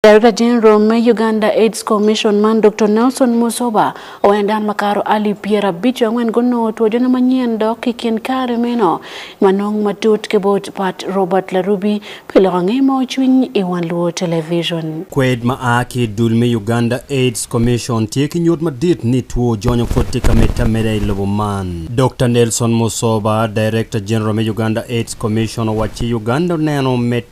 Darekta Jeneral me Uganda Aids Commission man Doktor Nelson Musoba owaco ni dano makato alip pyerabic ki angwen gunongo two jono manyen dok i kin kare meno wanong matut ki bot Pat Robert Larubi pi loko ange ma ocwiny i wang luwo television. Kwed ma a ki i dul me Uganda Aids Commission tye ki nyut madit ni two jonyo pud tye ka medde ameda i lobo man. Doktor Nelson Musoba, Darekta Jeneral me Uganda Aids Commission owacci Uganda oneno med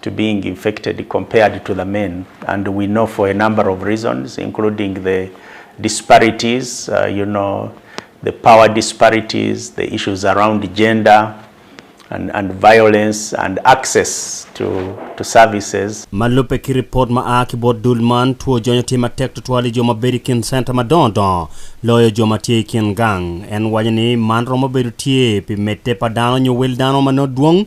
to being infected compared to the men and we know for a number of reasons including the disparities you know the power disparities, the issues around gender and and violence and access to to services. Ma lubbe ki ripot ma a ki bot dul man, two jonyo tye matek tutwal i jo ma bedo i kin center madongo dongo loyo jo ma tye i kin gang. En waco ni man romo bedo tye pi medde pa dano nyo wel dano ma nongo dwong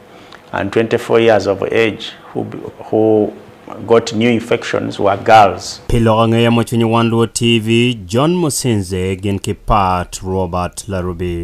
and 24 years of age who who got new infections were girls. Pi lok angeya ma cwinyo wan luo TV, John Musinze gin ki Pat Robert Larubi.